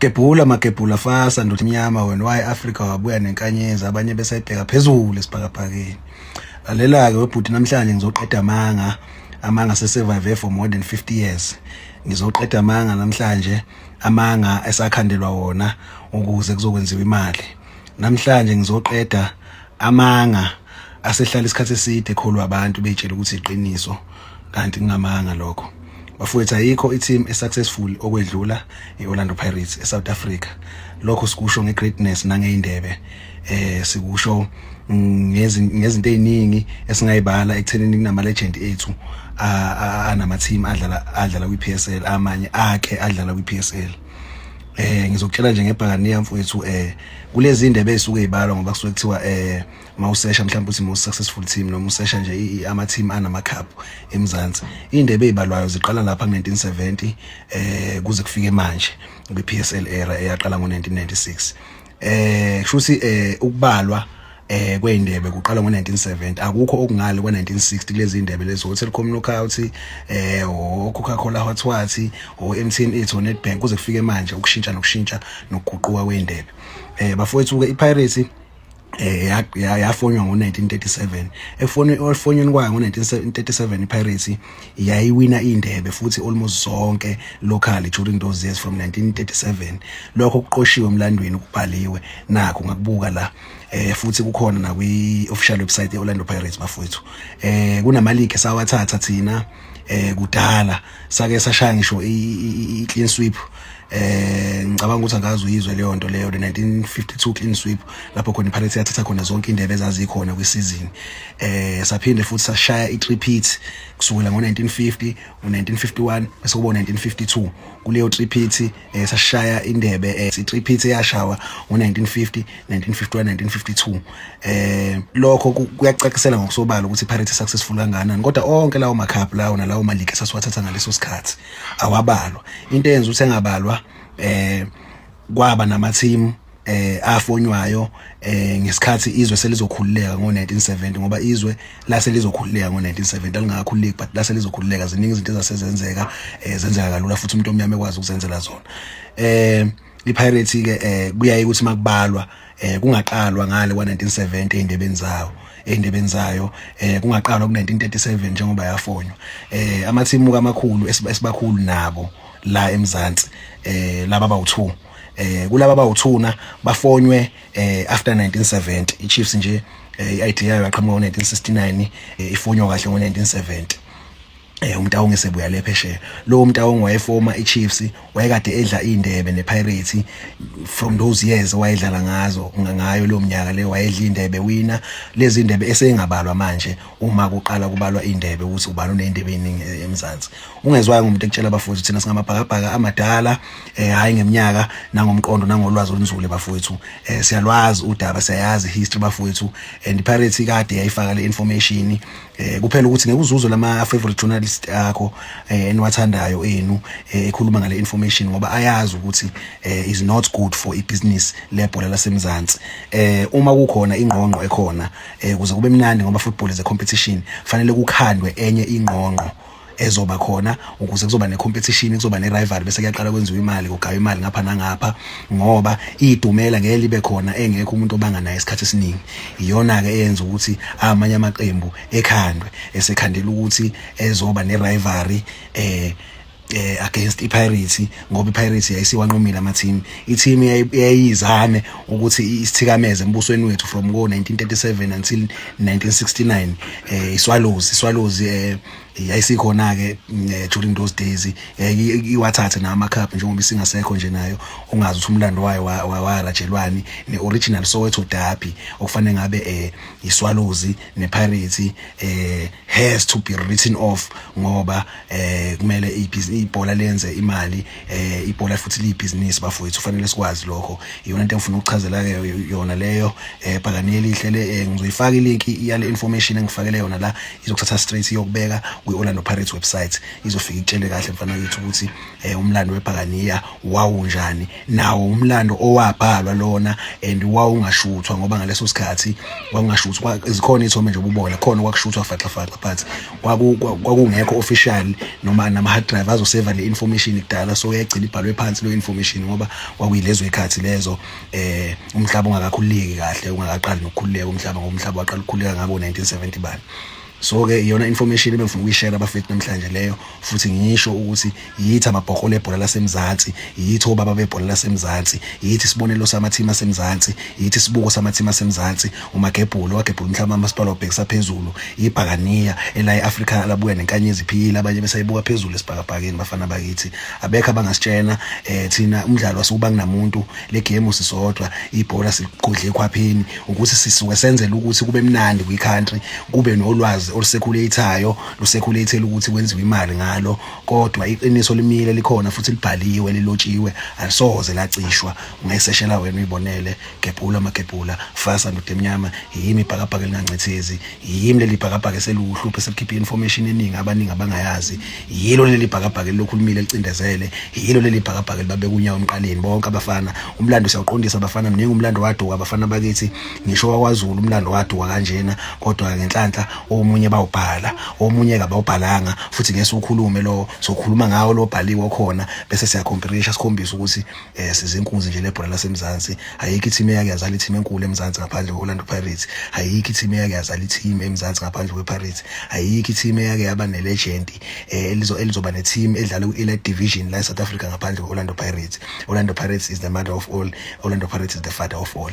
Gebhula magebhula fasa ndoda emnyama wena waye Africa wabuya nenkanyezi abanye besayibheka phezulu esibhakabhakeni lalela-ke webhuti namhlanje ngizoqeda amanga amanga sesurvive for more than 50 years ngizoqeda amanga namhlanje amanga esakhandelwa wona ukuze kuzokwenziwa imali namhlanje ngizoqeda amanga asehlala isikhathi eside kholwa abantu betshela ukuthi iqiniso kanti ngingamanga lokho bafowethu ayikho i-team e-successful okwedlula i-Orlando Pirates e-South Africa lokho sikusho nge-greatness nangeyindebe eh sikusho ngezinto eziningi esingayibala ekuthenini kunama legend ethu anama team adlala adlala kwi PSL amanye akhe adlala kwi PSL eh ngizokutshela nje ngebhakaniya mfowethu eh kulezi indebe ezisuke ibalwa ngoba kusuke kuthiwa eh mawusesha mhlawumbe uthi most successful team noma usesha nje ama team anama cup eMzansi indebe ezibalwayo ziqala lapha ngo1970 eh kuze kufike manje kwi PSL era eyaqala ngo1996 eh kushuthi eh ukubalwa eh kweindebe kuqala ngo1970 akukho okungale kwa1960 kulezi indebe lezo Telkom Knockout eh o Coca-Cola Hot Water o MTN Eats o Nedbank kuze kufike manje ukushintsha nokushintsha nokuguquka kweindebe eh bafowethu ke iPirates eh yafonywa ngo1937 efonwe olfonyweni kwayo ngo1937 iPirates yayiwina indebe futhi almost zonke locally during those years from 1937 lokho kuqoshiwe emlandweni kubhaliwe nakho ngakubuka la eh futhi kukhona na kwi official website yeOrlando Pirates bafowethu eh kunama league sawathatha thina eh kudala sake sashaya ngisho i clean sweep eh ngicabanga ukuthi angazi uyizwe leyo nto leyo 1952 clean sweep lapho khona iPirates yathatha khona zonke indebe ezazikhona kwisizini eh saphinde futhi sashaya i-repeat kusukela ngo-1950 u-1951 bese kuba 1952 kuleyo repeat eh sashaya indebe eh sitriphithe yashawa ngo1950 1951 1952 eh lokho kuyacachisela ngokusobala ukuthi iPirates successful kangakanani kodwa onke lawo macup lawo nalawo malike sasiwathatha ngaleso sikhathi awabalwa into eyenza ukuthi engabalwa eh kwaba nama team eh afonywayo eh ngesikhathi izwe selizokhululeka ngo1970 ngoba izwe lase lizokhululeka ngo1970 alingakakhululeki but lase lizokhululeka ziningi izinto ezasezenzeka eh zenzeka kalula futhi umuntu omnyama ekwazi ukuzenzela zona eh iPirates ke eh kuyaye ukuthi makubalwa eh kungaqalwa ngale kwa1970 endebeni zawo endebeni zayo eh kungaqalwa ku1937 njengoba yafonywa eh amathimu kamakhulu esibakhulu nabo la eMzansi eh laba bawu2 eh kulaba bawuthuna bafonywe eh after 1970 iChiefs nje eh, i-ID yayo yaqhamuka ngo-1969 eh, ifonywa kahle ngo-1970 eh umtawongi sebuya le phesheya lo umtawongi wayefoma iChiefs wayekade edla indebe nePirates from those years wayedlala ngazo ngayo lo mnyaka le wayedla indebe wina lezi indebe esengabalwa manje uma kuqala kubalwa indebe ukuthi ubani unendebe eningi eh, eMzansi ungezwayo umuntu ekutshela abafundi thina singamabhakabhaka amadala eh hayi ngeminyaka nangomqondo nangolwazi olunzule bafowethu eh siyalwazi udaba siyayazi history bafowethu and pirates ikade yayifaka le information eh kuphela ukuthi ngeke uzuzwe lama favorite journalist akho eh, eniwathandayo enu eh, ekhuluma ngale information ngoba ayazi ukuthi eh, is not good for ibusiness lebhola lasemzansi eh uma kukhona ingqongqo ekhona eh kuze kube mnandi ngoba football is a competition fanele kukhandwe enye ingqongqo ezoba khona ukuze kuzoba necompetition kuzoba nerival bese kuyaqala kwenziwa imali kugaywa imali ngapha nangapha ngoba idumela ngeke libe khona engekho umuntu obanga naye isikhathi esiningi iyona ke eyenza ukuthi amanye amaqembu ekhandwe esekhandela ukuthi ezoba nerivalry eh eh against iPirates ngoba iPirates yayisiwanqomile ama team i-team yayizame ukuthi isithikameze embusweni wethu from ngo 1937 until 1969 eh iSwallows iSwallows eh yayisikhona ke eh, during those days eh, iwathathe na ama cup njengoba isingasekho nje nayo ungazi ukuthi umlando wayo warajelwani ne original Soweto derby okufanele ngabe eh iSwallows ne Pirates eh has to be written off ngoba eh kumele ibhola lenze imali eh ibhola futhi liyibhizinisi bafowethu kufanele sikwazi lokho iyona into engifuna ukuchazela ke yona leyo eh bhakani elihle le eh, ngizoyifaka ilink yale information engifakele yona la izokuthatha straight iyokubeka kwi Orlando Pirates website izofika ikutshele kahle mfana wethu ukuthi eh umlando webhakaniya wawunjani nawo umlando owabhalwa lona and wawungashuthwa ngoba ngaleso sikhathi wawungashuthwa izikhona ithome nje ububona khona kwakushuthwa faxa faxa but kwakungekho official noma nama hard drive azoseva le information kudala so yagcina ibhalwe phansi lo information ngoba kwakuyilezo ikhathi lezo eh umhlaba ungakakhululeki kahle ungakaqali nokukhululeka umhlaba ngoba umhlaba waqala ukukhululeka ngabo 1970 bani so ke iyona information ebengifuna ukuyishare abafethu namhlanje leyo futhi ngisho ukuthi yithi amabhokola ebhola lasemzansi yithi obaba bebhola lasemzansi yithi isibonelo samathimu asemzansi yithi isibuko samathimu asemzansi umagebhulu wagebhula umhlaba amasipala obhekisa phezulu ibhakaniya elayi afrika labuya nenkanyezi iphiyile abanye besayibuka phezulu esibhakabhakeni bafana bakithi abekho abangasitshena eh thina umdlalo wasukuba kunamuntu le game sisodwa ibhola siqodle ekhwapheni ukuthi sisuke senzele ukuthi kube mnandi kwi country kube nolwazi olusekhuleyithayo lusekhuleyithela ukuthi kwenziwe imali ngalo kodwa iqiniso limile likhona futhi libhaliwe lilotshiwe alisoze lacishwa ungayiseshela wena uyibonele gebhula magebhula fasa ndoda emnyama yimi ibhakabhaka elingancithezi yimi leli bhakabhaka eseluhluphe selikhipha information eningi abaningi abangayazi yilo leli bhakabhaka elilokhulumile licindezele yilo leli bhakabhaka libabeka unyawo emqaleni bonke abafana umlando siyawuqondisa abafana mningi umlando waduka abafana bakithi ngisho wakwazulu umlando waduka kanjena kodwa ngenhlanhla omunye bawubhala omunye kabawubhalanga futhi ngeke siwukhulume lowo sokhuluma ngawo lo bhaliwe khona bese siyakhompirisha sikhombisa ukuthi eh sizinkunzi nje lebhola lasemzansi ayikho i-team eyake yazala i-team enkulu emzansi ngaphandle kwe-orlando pirates ayikho i-team eyake yazala i-team emzansi ngaphandle kwe-pirates ayikho i-team eyake yaba ne-legend eh, elizo elizoba ne-team edlala ku-elite division la e-south africa ngaphandle kwe-orlando pirates orlando pirates is the mother of all orlando pirates is the father of all